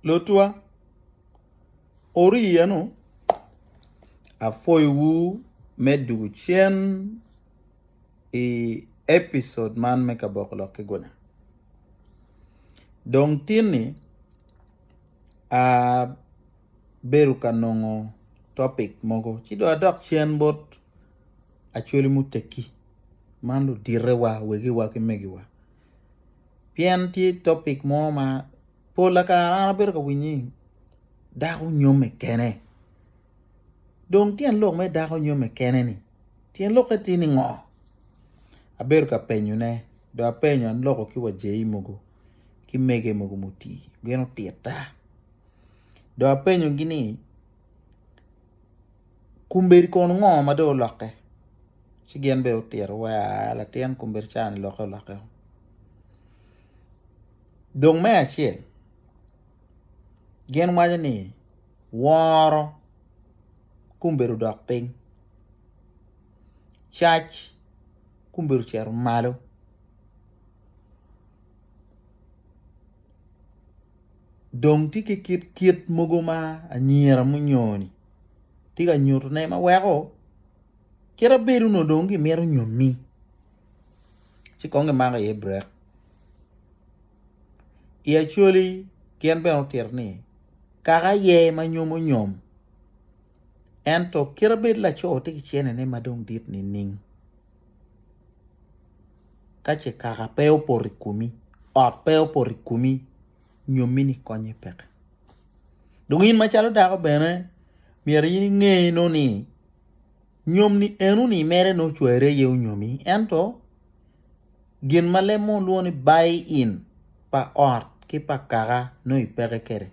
Lutwa, oriya nu, apwoyo wu me dugu cen i episode man me kaboko lok ki gunya. Dong tin ni abedo ka nongo topic mogo ci dong adok cen bot Acholi Mutekki man ludite wa, wegi wa ki megi wa. pien tye topic mo ma pola kare an abedo ka winye ni dako nyome kene dong tyen lok me dako nyome kene ni tyen lokke tye ni ngo abedo ka penyo ne do apenyo aloko ki wa Jay mogo ki mege mogo mutii gin otitta do apenyo gi ni Kombeddi kono ngo ma dong olokke? Ci gin bene otito wa latin kombeddi ca ni lokke olokke o. Dong me acel gin waco ni woro kombeddi odok piny, cac kombeddi ocito malo. dong tye ki kit kit mogo ma anyira munyoni tye ka nyutone ma weko kit abedo nongo dong gimito nyomi ci kong gimako iye brek i Acholi gin bene otito ni kaka aye ma nyomo nyom ento kit abedo laco tye ki cene ne madong dit nining. Ka ce kaka pe opoto i komi, ot pe opoto i komi, nyomi ni konye peke. Dong in macalo dako bene myero in inge no ni nyom ni eno ni mere nongo ocwere aye onyomi ento gin ma leb mo lwongo ni buy in pa ot ki pa kaka nongo i peke kede.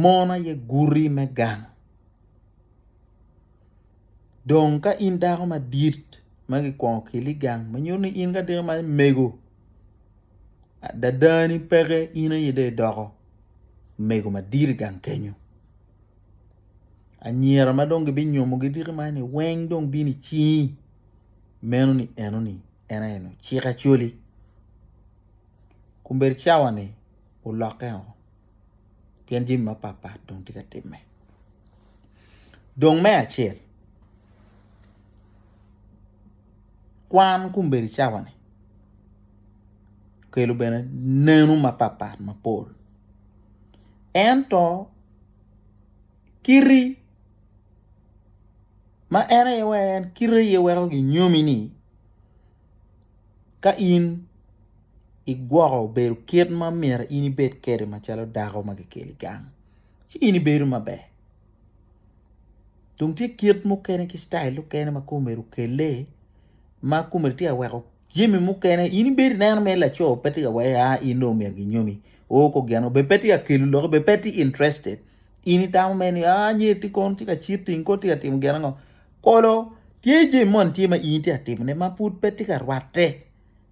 Mon aye guti me gang. Dong ka in dako madit ma kikwongo keli i gang ma nyuto ni in ka dako man imego adadani peke in aye dong idoko omego madit i gang kenyo anyira ma dong gibinyomo diki man ni weng dong bino i cingi meno ni eno ni en aye ociko acholi kombedo cawa ni olokke oo. pien jami mapatpat dong tye ka timme. Dong me acel, kwan kombeddi cawani okelo bene neno mapatpat mapol ento kiti ma en aye weko ginyomi-ni Ka in igwoko bedo kit ma myero in ibed kwede macalo dako ma kikelo i gang, ci in ibedo maber. Dong tye kit mukene ki citail mukene ma kong omyero okelle ma kong omyero tye ka weko jami mukene in ibedo ineno mere laco pe tye ka weko a in dong omyero ginyomi o kong gin bene pe tye ka kelo lok bene pe tye interested in itamo mere ni a nyer tye kono tye ka citing kono tye ka timo gin ango. Olo, tye jami mo nityet ma in itye ka timone ma pud pe tye ka rwatte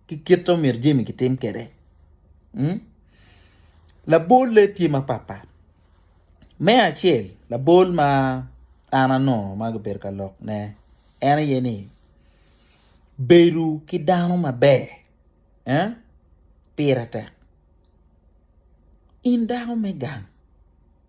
ki kit ma myero jami kitim kwede. Hmm? Labolle tye mapatpat. Me acel, labol ma an anongo ma gibedo ka lokne en aye ni bedo ki dano maber eh, pire tek. In dako me gang,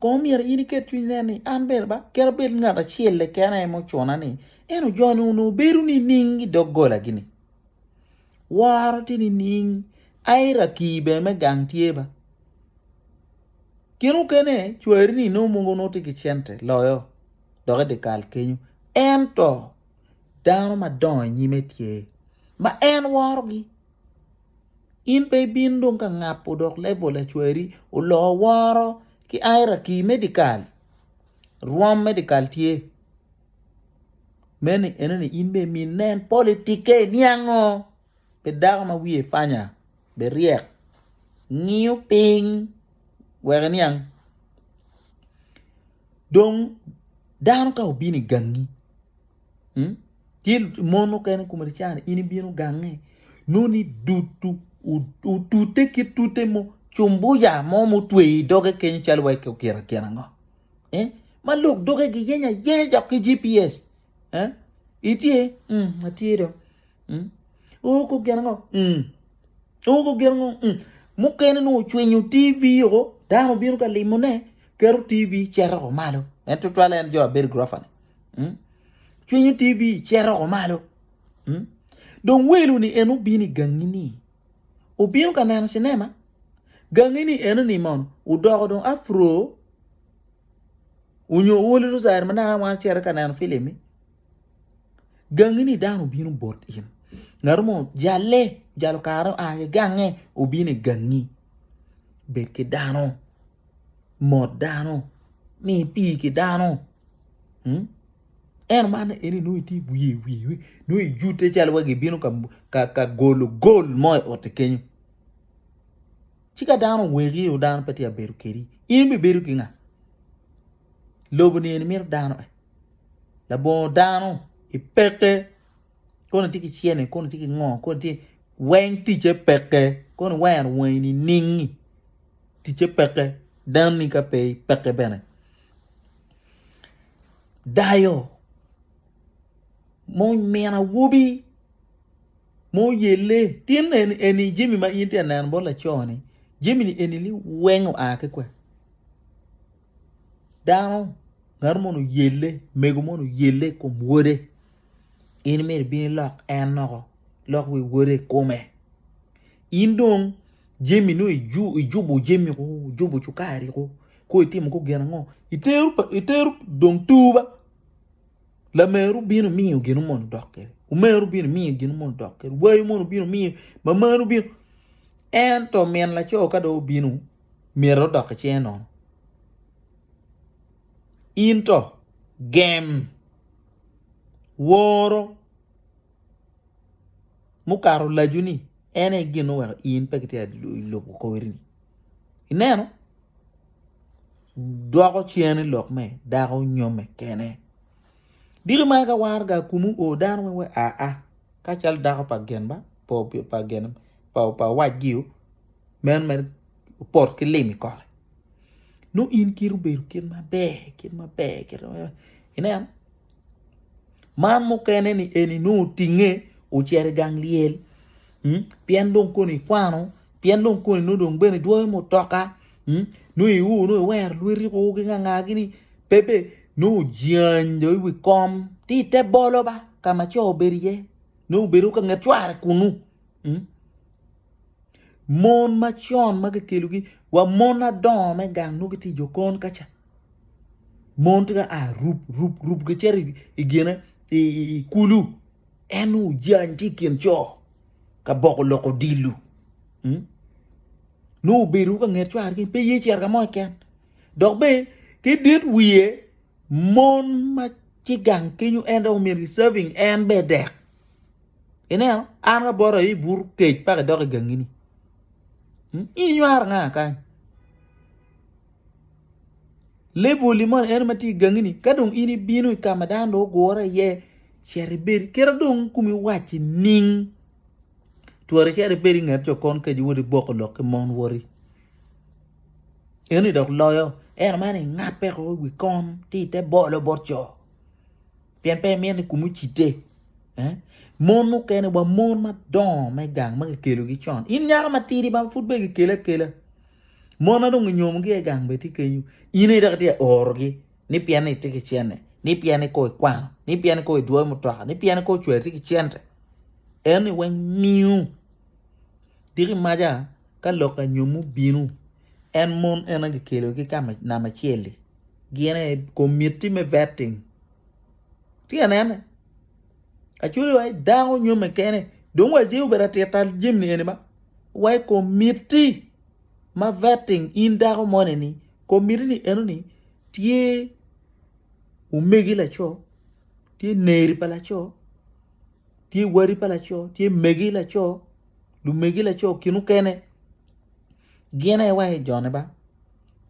Kong omyero in iket cwiny nen ni an bene ba kera bed ngat acel leken aye mucuna ni eno joni onongo bedo nining i dog gola gini. Woro tye nining aye raki bene me gang tye ba. Gin okene cwari ni nongo mogo nongo tye ki cente loyo dok i dikal kenyo ento dano madongo i nyime tye ma en worogi. In pe ibino dong ka ngapo dok level lacwari oloo woro ki hierarchy medical rwom medical tye meno enoni in bene mi nen politike niango pi dako ma wiye panya be ryek ngiyo piny wek iniang dong dano ka obino igangi. Ki mon mukene i kom Ricane in ibino gange noni dutu otute ki tute mo cumbuya mo mutweyo i doge kenyo calo wa kira kira ango. Eh? Ma lok doge giyeny ayenya dok ki GPS. Eh? Itye? Mm, atye do. Mm. Oko gin ango? Mm. Oko gin ango? Mm. Mukene nongo cwinyo TV oko, dano bino ka limone, keto TV cito oko malo. En tutwale en jo abedi grofa ni. Hmm? Cwinyo TV cito oko malo. Hmm? Dong welu ni en obino i gangi ni. Obino ka neno cinema. Gangi ni eno ni mono. Udoko dong afro. Unyo woli rosari ma nana wan cere ka neno filim ni. Gangi ni dano obino bot in. Ngaro mo jale, jalo karo a gange obino i gangi. Bet ki dano. mot dano ni pii ki dano hmm? en man eni nongo itye wiye wiye nongo ijute calo wa gibino ka, ka, ka golo gol mo i ote kenyo ci ka dano oweki o dano pe tye abedo kedi in ibibedo ki nga lobo ni eni mito dano eh. labongo dano ipeke Kono itye ki cene, kono itye ki ngo, kono itye weng ticce peke, kono iwero wangi niningi ticce peke, danni ka pe peke bene. Dayo mo min awobi mo yelle tin eni eni jami ma in tye ka neno bot laco ni jami ni eni weng oa ki kwen? Dano, ngatu moni oyelle, mego moni oyelle i kom wode, in myero ibin ilok en loko, ilok wi wode i kome. In dong jami nongo ijubo jami ko, ijubo cukari ko, kong itimo kong gin ango? Itero pa, itero dong tur ba, lameru bino miyo gin moni idok kwede, omeru bino miyo gin moni idok kwede, wayi moni bino miyo, mamanu bino. Ento min laco ka dong obino. myero odok ki cinge nono. In to gem woro mukato lacu ni en aye gin oweko in pe kitye i lobo kori-ni. Ineno? Dwoko cen lok me dako nyo me kene. Diki ma ka war ga kumu o dano weng we a a ka cal dako pa gen ba pa gen pa pa wacgi meno mere opoto ki lim i kore nongo in kit obedo kit maber kit maber kit maber ineno man mukene ni eni nongo otinge ocito i gang lyel mm? pien dong koni ikwano pien dong koni nongo dong bene idwoyo mutoka mm? nongo iur nongo iwero lweti ko ki nganga gini bebe nongo ojany dong i wi kom ti ite bolo ba ka ma co obedo iye nongo obedo ka nget cware kunu mm? Mon ma con ma kikelogi wa mon adongo me gang nongo gitye i jokon ka ca mon tye ka a rub rub rub gicito i gine i kulu en nongo ojany tye i kin co ka boko lok odilo nongo obedo ka nget cware keny pe ye cito ka mo keken dok bene ki dit wiye mon ma tye gang kenyo en dok omyero giserving en bene dek. Ineno, an ka bota i bur kec pa kidok i gangini. Hmm? Ini nywaro nga kany? Level moni en ma tye i gangini, ka dong in ibino i ka ma dano dong ogure iye, ceri bedi, kira dong kumi wacci ning, twari ceri bedi i nget jo kon keci wodi boko lok ki mon wori. Eni dok loyo, en man ingape ko i wi kon, ti te bolo bot co. pien pe imito ni kumi ocitte. Eh? Mon mukene wa mon madongo me gang ma kikelogi con. In nyako matidi ma pud be kikele akela. Mon ma dong inyomogi e gang be tye kenyo. In aye dok itye ka orogi ni pien ni itye ki cente, ni pien ni kong ikwano, ni pien ni kong idwoyo mutoka, ni pien ni kong ocwere tye ki cente. Eno ni weng miu. Diki maca ka lok anyomo bino, en mon en aye kikelogi ki ka ma- namba acel-li. Gin aye komitti me vetting. Tye ka nene? Aculo wai dako nyome kene. Dong wai ci obedo atit ta jami ni eni ma wai komiti ma vetting in dako moni ni komiti ni eno ni tye omegi laco, tye neri pa laco, tye wadi pa laco, tye megi laco, lumegi laco kinu kene gin aye wai jone ba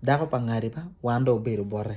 dako pa ngadi ba wan dong obedo bote.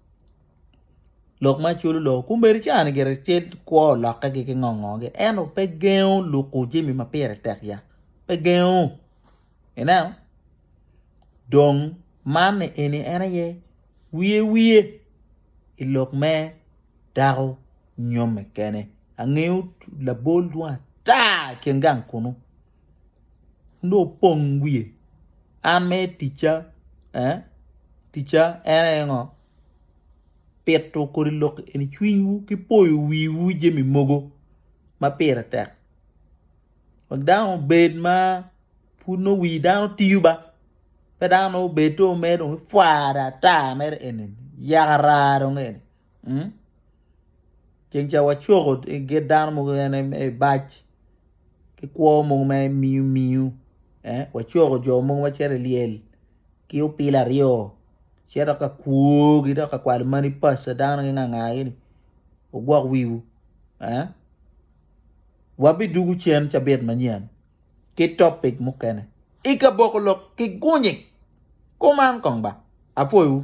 lok ma culo lok okumeri ca ni gire tye kwo lokke gi ki ngo ngo gi ento pe gengo luku jami ma pire tek ya pe gengo ineno dong man ni eni en aye wiye wiye i lok me dako nyomme kene angeyo labol dwong ata i kin gang kunu nongo opong wiye an me ticca eh ticca en aye ngo pito kodi lok eni cwinywu ki poyo wiwu jami mogo ma pire tek wek dano obed ma pud nongo wi dano tiyo ba pe dano nongo obed to mere dong ifware ata mere eni yaka raa dong eni. mm ceng ca wacoko git dano mogo kene me bac ki kwo mogo me miyu miyu eh wacoko jo mogo macito i lyel ki opilo aryo cito ka kwogi dok ka kwalo mani paco dano ginganga gini wugwok wiwu eh wabidugu cen cabit manyen ki topic mukene i kaboko lok ki gunyi kuman kong ba apwoyiwu.